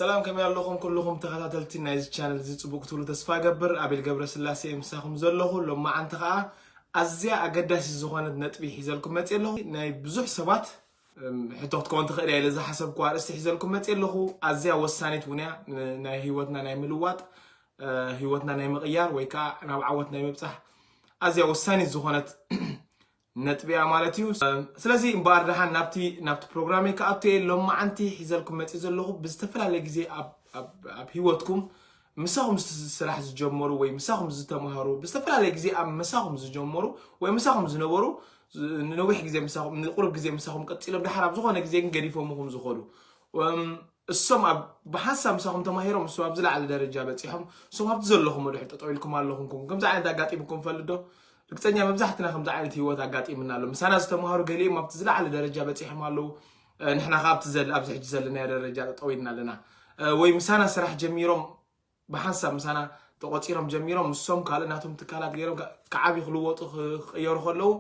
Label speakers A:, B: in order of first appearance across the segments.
A: ሰላም ከመይ ኣለኹም ኩሉኹም ተኸታተልቲ ናይዚ ቻነል እዚ ጽቡቅ ክትብሉ ተስፋ እገብር ኣቤል ገብረስላሴ እየ ምሳኹም ዘለኹ ሎማዓንቲ ከዓ ኣዝያ ኣገዳሲት ዝኾነት ነጥቢ ሒዘልኩም መጽ ኣለኹ ናይ ብዙሕ ሰባት ሕቶ ክትከውን ትኽእል እያ ኢለ ዝሓሰብኩ ኣርእስቲ ሒዘልኩም መጽ ኣለኹ ኣዝያ ወሳኒት እውን እያ ናይ ህይወትና ናይ ምልዋጥ ህይወትና ናይ ምቕያር ወይ ከዓ ናብ ዓወት ናይ ምብጻሕ ኣዝያ ወሳኒት ዝኾነት ነጥቢ'ያ ማለት እዩ። ስለዚ እምበኣር ደሓን ናብቲ ናብቲ ፕሮግራመይ ክኣቱ እየ። ሎማዓንቲ ሒዘልኩም መጺእ ዘለኹ ብዝተፈላለየ ግዜ ኣብ ኣብ ኣብ ህይወትኩም ምሳኹም ስራሕ ዝጀመሩ ወይ ምሳኹም ዝተማሃሩ ብዝተፈላለየ ግዜ ኣብ ምሳኹም ዝጀመሩ ወይ ምሳኹም ዝነበሩ ንነዊሕ ግዜ ምሳኹም ንቁሩብ ግዜ ምሳኹም ቀጺሎም ደሓር ኣብ ዝኾነ ግዜ ግን ገዲፎምኹም ዝኾዱ እሶም ኣብ ብሓንሳብ ምሳኹም ተማሂሮም እሶም ኣብ ዝለዓለ ደረጃ በጺሖም እሶም ኣብቲ ዘለኹሞ ድሕሪ ጠጠው ኢልኩም ኣለኹምኩም ከምዚ ዓይነት ኣጋጢሙኩም ይፈልጥ ዶ ርግጸኛ መብዛሕትና ከምዚ ዓይነት ህይወት ኣጋጢምና ኣሎ ምሳና ዝተማሃሩ ገሊኦም ኣብቲ ዝለዓለ ደረጃ በጺሖም ኣለዉ ንሕና ከ ኣብቲ ዘለ ኣብዚ ሕጂ ዘለናዮ ደረጃ ጠጠው ኢልና ኣለና ወይ ምሳና ስራሕ ጀሚሮም ብሓንሳብ ምሳና ተቖጺሮም ጀሚሮም ንሶም ካልእ ናቶም ትካላት ገይሮም ክዓብዩ ክልወጡ ክቕየሩ ከለዉ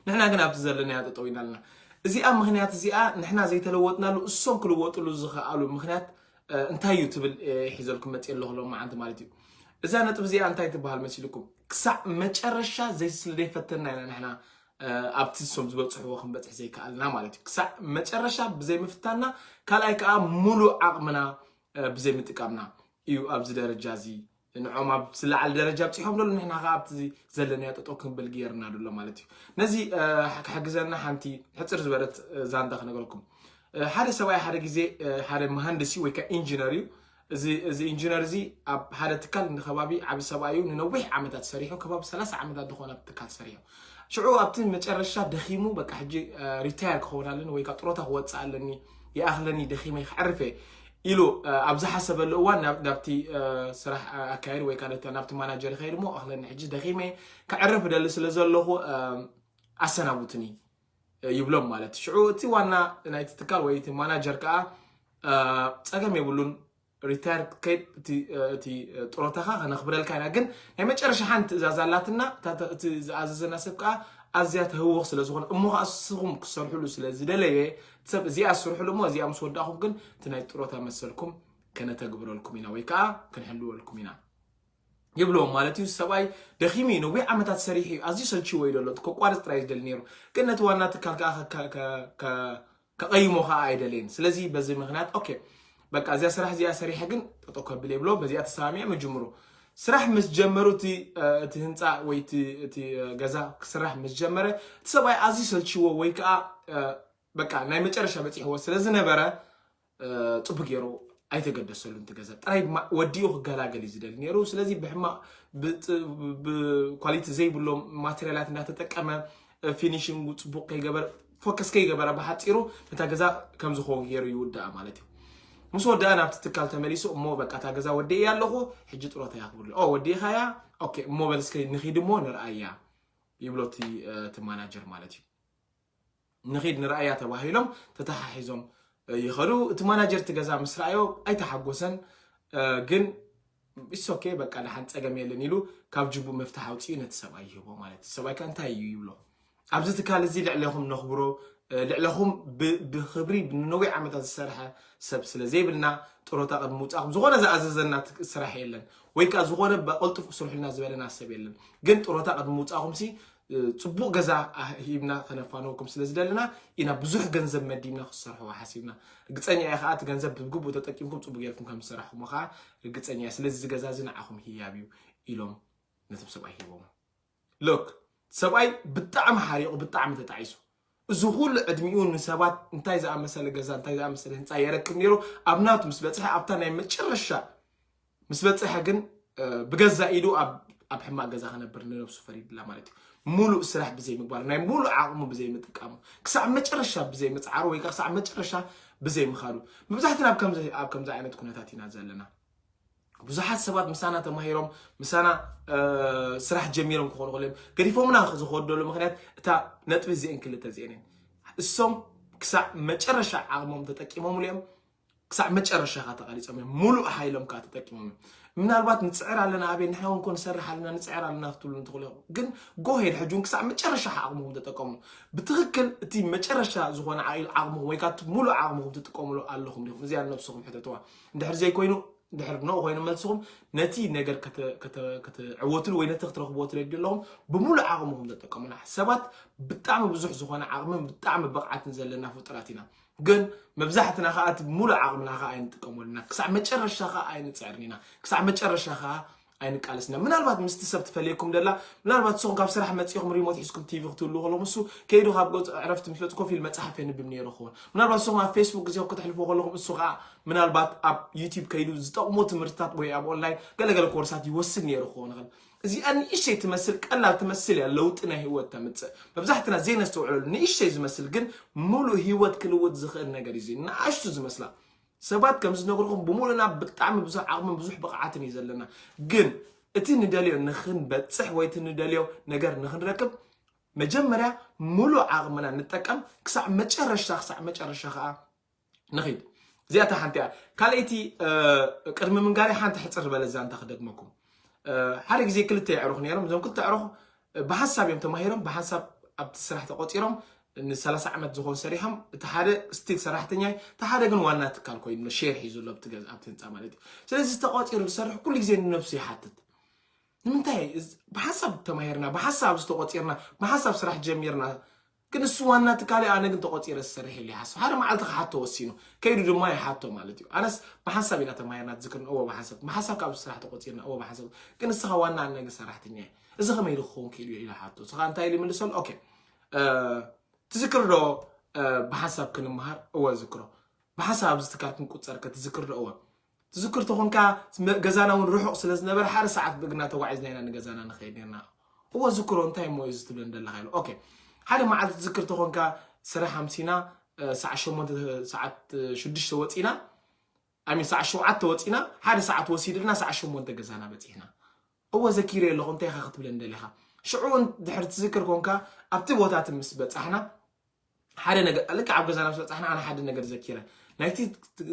A: ንሕና ግን ኣብዚ ዘለናዮ ጠጠው ኢና ኣለና እዚኣ ምክንያት እዚኣ ንሕና ዘይተለወጥናሉ እሶም ክልወጥሉ ዝኽኣሉ ምክንያት እንታይ እዩ ትብል ሒዘልኩም መፅ ኣለኹ ሎም መዓንቲ ማለት እዩ እዛ ነጥብ እዚኣ እንታይ ትበሃል መሲልኩም ክሳዕ መጨረሻ ዘይስለይፈተና ኢና ንሕና ኣብቲ ንሶም ዝበፅሕዎ ክንበፅሕ ዘይከኣልና ማለት እዩ ክሳዕ መጨረሻ ብዘይምፍታና ካልኣይ ከዓ ሙሉእ ዓቕምና ብዘይምጥቃምና እዩ ኣብዚ ደረጃ እዚ ንዖም ኣብ ዝለዓለ ደረጃ ኣብፂሖም ዘሎ ንሕና ከዓ ኣብቲ ዘለናዮ ጠጠው ክንብል ገይርና ዘሎ ማለት እዩ ነዚ ክሕግዘና ሓንቲ ሕፅር ዝበረት ዛንታ ክነገረኩም ሓደ ሰብኣይ ሓደ ግዜ ሓደ መሃንድስ እዩ ወይ ከዓ ኢንጂነር እዩ እዚ ኢንጂነር እዚ ኣብ ሓደ ትካል ንከባቢ ዓብ ሰብኣዩ ንነዊሕ ዓመታት ሰሪሑ ከባቢ ሰላሳ ዓመታት ዝኾነ ትካል ሰሪሑ ሽዑ ኣብቲ መጨረሻ ደኺሙ በቃ ሕጂ ሪታየር ክኸውን ኣለኒ ወይ ካብ ጥሮታ ክወፅእ ኣለኒ ይኣኽለኒ ደኺመይ ክዕርፍ እየ ኢሉ ኣብ ዝሓሰበሉ እዋን ናብቲ ስራሕ ኣካየድ ወይ ከዓ ናብቲ ማናጀር ይኸይድ እሞ ኣኽለኒ ሕጂ ደኺመ ክዕርፍ እደሊ ስለ ዘለኹ ኣሰናቡትኒ ይብሎም ማለት ሽዑ እቲ ዋና ናይቲ ትካል ወይ እቲ ማናጀር ከዓ ፀገም የብሉን ሪታየርድ ከይድ እቲ ጥሮታኻ ከነኽብረልካ ኢና ግን ናይ መጨረሻ ሓንቲ ትእዛዝ ኣላትና እቲ ዝኣዘዘና ሰብ ከዓ ኣዝያ ተህውኽ ስለ ዝኾነ እሞ ከዓ ንስኹም ክሰርሕሉ ስለ ዝደለየ ሰብ እዚኣ ስርሕሉ እሞ እዚኣ ምስ ወዳእኹም ግን እቲ ናይ ጥሮታ መሰልኩም ከነተግብረልኩም ኢና ወይ ከዓ ክንሕልወልኩም ኢና ይብሎም ማለት እዩ ሰብኣይ ደኺሙ እዩ ነዊሕ ዓመታት ሰሪሑ እዩ ኣዝዩ ሰልችዎ እዩ ዘሎ ከቋርፅ ጥራይ ዝደሊ ነይሩ ግን ነቲ ዋና ትካል ከዓ ከቐይሞ ከኣ ኣይደለይን ስለዚ በዚ ምክንያት ኦኬ በቃ እዚኣ ስራሕ እዚኣ ሰሪሐ ግን ጠጠው ከብል እየ ብሎ በዚኣ ተሰማሚዖም ይጅምሩ ስራሕ ምስ ጀመሩ እቲ እቲ ህንፃ ወይ እቲ እቲ ገዛ ክስራሕ ምስ ጀመረ እቲ ሰብኣይ ኣዝዩ ሰልችዎ ወይ ከዓ በቃ ናይ መጨረሻ በፂሕዎ ስለ ዝነበረ ፅቡቅ ገይሩ ኣይተገደሰሉን እቲ ገዛ ጥራይ ድማ ወዲኡ ክገላገል እዩ ዝደሊ ነይሩ ስለዚ ብሕማቅ ብኳሊቲ ዘይብሎም ማቴሪያላት እንዳተጠቀመ ፊኒሽንጉ ፅቡቅ ከይገበር ፎከስ ከይገበረ ብሓፂሩ ነታ ገዛ ከም ዝኸውን ገይሩ ይውድኣ ማለት እዩ ምስ ወድኣ ናብቲ ትካል ተመሊሱ እሞ በቃ እታ ገዛ ወዲእ እያ ኣለኹ ሕጂ ጥሮታ እያ ክብሉ ኦ ወዲእኻ እያ ኦኬ እሞ በልስከ ንኺድ እሞ ንርኣያ ይብሎ እቲ እቲ ማናጀር ማለት እዩ ንኺድ ንርኣያ ተባሂሎም ተተሓሒዞም ይኸዱ እቲ ማናጀር እቲ ገዛ ምስ ረኣዮ ኣይተሓጎሰን ግን ኢትስ ኦኬ በቃ ደሓን ጸገም የለን ኢሉ ካብ ጅቡኡ መፍትሕ ኣውጺኡ ነቲ ሰብኣይ ይህቦ ማለት እዩ። ሰብኣይ ከ እንታይ እዩ ይብሎ ኣብዚ ትካል እዚ ልዕለኹም ነኽብሮ ልዕለኹም ብክብሪ ንነዊሕ ዓመታት ዝሰርሐ ሰብ ስለ ዘይብልና ጥሮታ ቅድሚ ምውጻእኩም ዝኾነ ዝኣዘዘና ስራሕ የለን ወይ ከዓ ዝኾነ ብቕልጡፍ ክስርሑልና ዝበለና ሰብ የለን ግን ጥሮታ ቅድሚ ምውጻእኩም ሲ ፅቡቕ ገዛ ሂብና ከነፋነወኩም ስለ ዝደለና ኢና ብዙሕ ገንዘብ መዲብና ክሰርሕዎ ሓሲብና ርግፀኛ እየ ከዓ እቲ ገንዘብ ብግቡእ ተጠቂምኩም ፅቡቅ ጌርኩም ከም ዝሰራሕኹሞ ከዓ ርግፀኛ እየ ስለዚ እዚ ገዛ እዚ ንዓኹም ህያብ እዩ ኢሎም ነቶም ሰብኣይ ሂቦም ሎክ ሰብኣይ ብጣዕሚ ሓሪቑ ብጣዕሚ ተጣዒሱ እዚ ኹሉ ዕድሚኡ ንሰባት እንታይ ዝኣመሰለ ገዛ፣ እንታይ ዝኣመሰለ ህንጻ የረክብ ነይሩ፣ ኣብ ናቱ ምስ በጽሐ፣ ኣብታ ናይ መጨረሻ ምስ በጽሐ ግን ብገዛእ ኢዱ ኣብ ሕማቕ ገዛ ክነብር ንነብሱ ፈሪድላ ማለት እዩ። ሙሉእ ስራሕ ብዘይ ምግባሩ፣ ናይ ሙሉእ ዓቕሙ ብዘይ ምጥቃሙ፣ ክሳዕ መጨረሻ ብዘይ ምጽዓሩ ወይ ከኣ ክሳዕ መጨረሻ ብዘይ ምኻዱ፣ መብዛሕትና ኣብ ከምዚ ኣብ ከምዚ ዓይነት ኩነታት ኢና ዘለና። ብዙሓት ሰባት ምሳና ተማሂሮም ምሳና ስራሕ ጀሚሮም ክኾኑ ክእሉ እዮም ገዲፎምና ዝኸደሉ ምክንያት እታ ነጥቢ እዚአን ክልተ እዚአን እየን እሶም ክሳዕ መጨረሻ ዓቕሞም ተጠቂሞምሉ እዮም ክሳዕ መጨረሻ ካ ተቓሊፆም እዮም ሙሉእ ሓይሎም ከዓ ተጠቂሞም እዮም ምናልባት ንፅዕር ኣለና ኣበይ ንሕና እውን ኮን ንሰርሕ ኣለና ንፅዕር ኣለና ክትብሉ እንትኽእሉ ኢኹም ግን ጎሄድ ሕጂ እውን ክሳዕ መጨረሻ ዓቕምኹም ተጠቀሙ ብትኽክል እቲ መጨረሻ ዝኾነ ዓቕምኹም ወይ ከዓ ሙሉእ ዓቕምኹም ትጥቀምሉ ኣለኹም ዲኹም እዚኣ ነብስኹም ሕተትዋ እንድሕር ዘይኮይኑ ድሕር ኖ ኮይኑ መልስኹም ነቲ ነገር ክትዕወትሉ ወይ ነቲ ክትረኽብዎ ትደልዩ ኣለኹም ብምሉእ ዓቕምኹም ተጠቀሙና ሰባት ብጣዕሚ ብዙሕ ዝኾነ ዓቕምን ብጣዕሚ ብቕዓትን ዘለና ፍጡራት ኢና ግን መብዛሕትና ከዓ እቲ ብምሉእ ዓቕምና ከዓ ኣይንጥቀመሉና ክሳዕ መጨረሻ ከዓ ኣይንፅዕርን ኢና ክሳዕ መጨረሻ ከዓ ኣይንቃለስና ምናልባት ምስቲ ሰብ ትፈልየኩም ደላ ምናልባት ንስኹም ካብ ስራሕ መፂኹም ሪሞት ሒዝኩም ቲቪ ክትህሉ ከሎ ምስ ከይዱ ካብ ገፅ ዕረፍቲ ምስ መፅ ኮፍ ኢሉ መፅሓፍ የንብብ ነይሩ ክኸውን ምናልባት ንስኹም ኣብ ፌስቡክ ግዜኹም ክትሕልፉ ከለኹም እሱ ከዓ ምናልባት ኣብ ዩቲብ ከይዱ ዝጠቕሞ ትምህርትታት ወይ ኣብ ኦንላይን ገለገለ ኮርሳት ይወስድ ነይሩ ክኸውን ይኽእል እዚኣ ንእሽተይ ትመስል ቀላል ትመስል እያ ለውጢ ናይ ህይወት ተምፅእ መብዛሕትና ዘይነስተውዕለሉ ንእሽተይ ዝመስል ግን ሙሉእ ህይወት ክልውጥ ዝኽእል ነገር እዩ ንኣሽቱ ዝመስላ ሰባት ከም ዝነግርኹም ብምሉእና ብጣዕሚ ብዙሕ ዓቕምን ብዙሕ ብቕዓትን እዩ ዘለና ግን እቲ ንደልዮ ንክንበፅሕ ወይ እቲ ንደልዮ ነገር ንክንረክብ መጀመርያ ምሉእ ዓቕምና ንጠቀም ክሳዕ መጨረሻ ክሳዕ መጨረሻ ከዓ ንኺድ እዚኣ እታ ሓንቲ እያ ካልኣይቲ ቅድሚ ምንጋሪ ሓንቲ ሕፅር ዝበለ ዛንታ ክደግመኩም ሓደ ግዜ ክልተ የዕሩኽ ነይሮም እዞም ክልተ ኣዕሩኽ ብሓሳብ እዮም ተማሂሮም ብሓሳብ ኣብቲ ስራሕ ተቆፂሮም ንሰላሳ ዓመት ዝኾን ሰሪሖም እቲ ሓደ ስቲል ሰራሕተኛ እዩ እቲ ሓደ ግን ዋና ትካል ኮይኑ ኣሎ ሼር ሒዙ ኣሎ ኣብቲ ገዛ ኣብቲ ህንፃ ማለት እዩ ስለዚ ተቆፂሩ ዝሰርሕ ኩሉ ግዜ ንነብሱ ይሓትት ንምንታይ እዚ- ብሓሳብ ተማሂርና ብሓሳብ ዝተቆፂርና ብሓሳብ ስራሕ ጀሚርና ግን ንሱ ዋና ትካል እዩ ኣነ ግን ተቆጺረ ዝሰርሕ ኢለ ይሓስብ ሓደ መዓልቲ ክሓቶ ወሲኑ ከይዱ ድማ ይሓቶ ማለት እዩ ኣነስ ብሓንሳብ ኢና ተማሂርና ትዝክርን እወ ብሓንሳብ ብሓንሳብ ካብ ስራሕ ተቆጺርና እወ ብሓንሳብ ግን ንስኻ ዋና ኣነ ግን ሰራሕተኛ እየ እዚ ከመይ ኢሉ ክኸውን ክኢሉ እዩ ኢለ ሓቶ ስኻ እንታይ ኢሉ ይምልሰሉ ኦኬ ትዝክር ዶ ብሓንሳብ ክንመሃር እወ ዝክሮ ብሓንሳብ ኣብዚ ትካል ክንቁጸር ከ ትዝክር ዶ እወ ትዝክር ተኾንካ ገዛና እውን ርሑቕ ስለ ዝነበረ ሓደ ሰዓት ብእግርና ተጓዒዝና ኢና ንገዛና ንኸይድ ነርና እወ ዝክሮ እንታይ እሞ እዩ ዝትብለን ዘለካ ኢሉ ኦኬ ሓደ መዓልቲ ትዝክር ተኾንካ ስራሕ ኣምሲና ሰዓት ሸሞንተ ሰዓት ሽዱሽተ ወፂና ኣሚን ሰዓት ሸውዓተ ወፂና ሓደ ሰዓት ወሲድልና ሰዓት ሸሞንተ ገዛና በፂሕና እወ ዘኪረ ኣለኹ እንታይ ኢኻ ክትብለን ደሊኻ ሽዑ ድሕሪ ትዝክር ኮንካ ኣብቲ ቦታቲ ምስ በፃሕና ሓደ ነገር ልክዕ ኣብ ገዛና ምስ በጻሕና ኣነ ሓደ ነገር ዘኪረ ናይቲ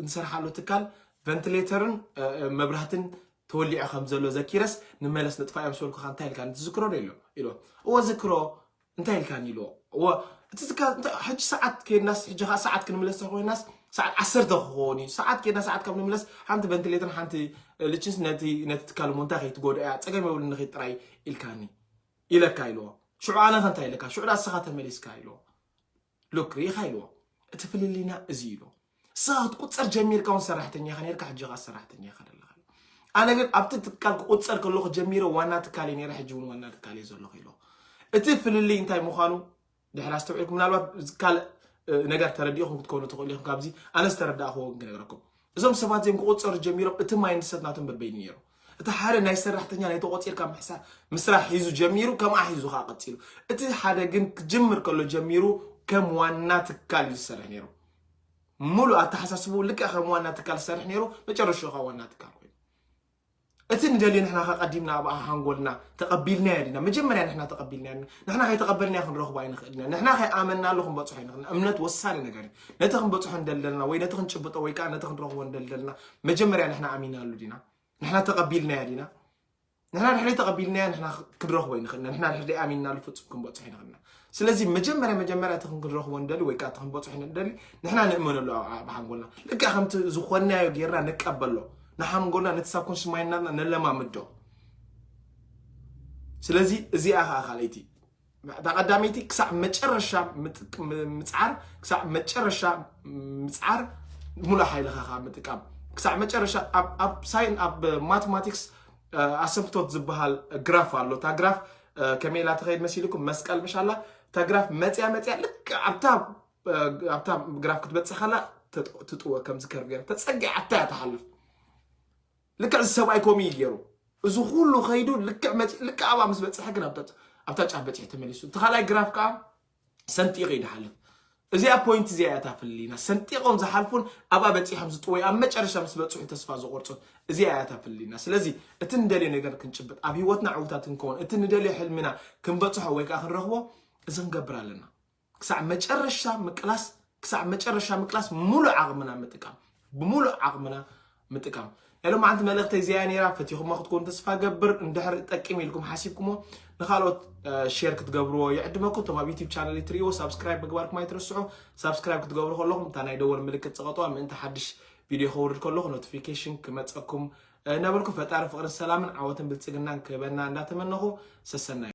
A: ንሰርሓሉ ትካል ቨንትሌተርን መብራህትን ተወሊዑ ከም ዘሎ ዘኪረስ ንመለስ ንጥፋ እዮም ዝበልኩካ እንታይ ኢልካኒ ትዝክሮ ዶ ኢሎ ኢሎ እወ ዝክሮ እንታይ ኢልካኒ ኢልዎ እወ እቲ ትካል እንታይ ሕጂ ሰዓት ከይድናስ ሕጂ ከዓ ሰዓት ክንምለስ ተኮይናስ ሰዓት ዓሰርተ ክኸውን እዩ ሰዓት ከይድና ሰዓት ካብ ንምለስ ሓንቲ ቨንትሌተርን ሓንቲ ልችንስ ነቲ ነቲ ትካል እሞ እንታይ ከይትጎድኦ እያ ፀገም የብሉን ንኺድ ጥራይ ኢልካኒ ኢለካ ኢልዎ ሽዑ ኣነኸ እንታይ ኢለካ ሽዑ ዳኣ እስኻ ተመሊስካ ኢልዎ ሉክ ርኢኻ ኢልዎ እቲ ፍልልይና እዚ ኢልዎ እስኻ ክትቁፀር ጀሚርካ እውን ሰራሕተኛ ኢኻ ነርካ ሕጂ ኸዓ ሰራሕተኛ ኢኻ ደለኻ ኣነ ግን ኣብቲ ትካል ክቁፀር ከለኹ ጀሚረ ዋና ትካል እየ ነይረ ሕጂ እውን ዋና ትካል እየ ዘለኹ ኢልዎ እቲ ፍልልይ እንታይ ምዃኑ ድሕር ኣስተውዒልኩም ምናልባት ካልእ ነገር ተረዲእኹም ክትኮኑ ትኽእሉ ኢኹም ካብዚ ኣነ ዝተረዳእኽዎ ግን ክነግረኩም እዞም ሰባት እዚኦም ክቆፀሩ ጀሚሮም እቲ ማይንድሰት ናቶም በበይኑ ነይሩ እቲ ሓደ ናይ ሰራሕተኛ ናይ ተቆፂርካ ምስራሕ ሒዙ ጀሚሩ ከምኣ ሒዙ ከዓ ቀፂሉ እቲ ሓደ ግን ክጅምር ከሎ ጀሚሩ ከም ዋና ትካል እዩ ዝሰርሕ ነይሩ ሙሉእ ኣተሓሳስቡ ልክዕ ከም ዋና ትካል ዝሰርሕ ነይሩ መጨረሻ ከዓ ዋና ትካል ኮይኑ እቲ ንደልዮ ንሕና ከ ቀዲምና ኣብ ሃንጎልና ተቀቢልናዮ ዲና መጀመርያ ንሕና ተቀቢልናዮ ዲና ንሕና ከይተቀበልናዮ ክንረኽቦ ኣይንኽእልን ኢና ንሕና ከይኣመንናሉ ክንበጽሖ ኣይንኽእልን እምነት ወሳኒ ነገር እዩ ነቲ ክንበጽሖ ንደሊ ዘለና ወይ ነቲ ክንጭብጦ ወይ ከዓ ነቲ ክንረኽቦ ንደሊ ዘለና መጀመርያ ንሕና ኣሚናሉ ዲና ንሕና ተቀቢልናዮ ዲና ንሕና ድሕሪ ተቀቢልናዮ ንሕና ክንረኽቦ ኣይንኽእልን ኢና ንሕና ድሕሪ ኣሚንናሉ ፍጹም ክንበጽሖ ኣይንኽእልን ኢና ስለዚ መጀመርያ መጀመርያ እቲ ክንረኽቦ ንደሊ ወይ ከዓ እቲ ክንበፅሖ ንደሊ ንሕና ንእመነሉ ኣብ ብሓንጎልና ልክዕ ከምቲ ዝኾንናዮ ጌርና ንቀበሎ ንሓንጎልና ነቲ ሳብኮንሽስ ማይንድና ነለማምዶ ስለዚ እዚኣ ከዓ ካልኣይቲ እታ ቀዳመይቲ ክሳዕ መጨረሻ ምፅዓር ክሳዕ መጨረሻ ምፅዓር ሙሉእ ሓይልኻ ካብ ምጥቃም ክሳዕ መጨረሻ ኣብ ሳይን ኣብ ማቴማቲክስ ኣሰንፍቶት ዝበሃል ግራፍ ኣሎ። እታ ግራፍ ከመይ ኢላ ትኸይድ መሲልኩም መስቀል ምሽ ኣላ እታ ግራፍ መፅያ መፅያ ልክ ኣብታ ግራፍ ክትበፅሕ ከላ ትጥወ ከምዚ ከርብ ገይራ ተፀጊዓታ እያ ትሓልፍ። ልክዕ እዚ ሰብኣይ ከምኡ እዩ ገይሩ እዚ ኩሉ ከይዱ ልክዕ መፅ ልክዕ ኣብኣ ምስ በፅሐ ግን ኣብታ ጫፍ በፂሑ ተመሊሱ። እቲ ካልኣይ ግራፍ ከዓ ሰንጢቕ እዩ ድሓልፍ እዚኣ ፖይንት እዚኣ እያ ታፍልሊና ሰንጢቖም ዝሓልፉን ኣብኣ በፂሖም ዝጥወዩ ኣብ መጨረሻ ምስ በፅሑ ተስፋ ዝቆርፁን እዚኣ እያ ታፍልሊና ስለዚ እቲ ንደልዮ ነገር ክንጭብጥ ኣብ ሂወትና ዕውታት ክንከውን እቲ ንደልዮ ሕልሚና ክንበፅሖ ወይ ከዓ ክንረኽቦ እዚ ክንገብር ኣለና ክሳዕ መጨረሻ ምቅላስ ክሳዕ መጨረሻ ምቅላስ ሙሉእ ዓቕምና ምጥቃም ብሙሉእ ዓቕምና ምጥቃም ናይ ሎማዓንቲ መልእኽተይ እዚኣ ነይራ ፈቲኹሞ ክትኮኑ ተስፋ ገብር እንድሕር ጠቂም ኢልኩም ሓሲብኩሞ ንካልኦት ሼር ክትገብርዎ ይዕድመኩም እቶም ኣብ ዩቲብ ቻነል ትርእይዎ ሳብስክራይብ ምግባርኩም ኣይትርስዑ ሳብስክራይብ ክትገብሩ ከለኹም እታ ናይ ደወል ምልክት ፀቐጥዋ ምእንቲ ሓድሽ ቪድዮ ከውርድ ከለኹ ኖቲፊኬሽን ክመፀኩም እናበልኩ ፈጣሪ ፍቕርን ሰላምን ዓወትን ብልፅግናን ክህበና እንዳተመነኹ ሰሰናዩ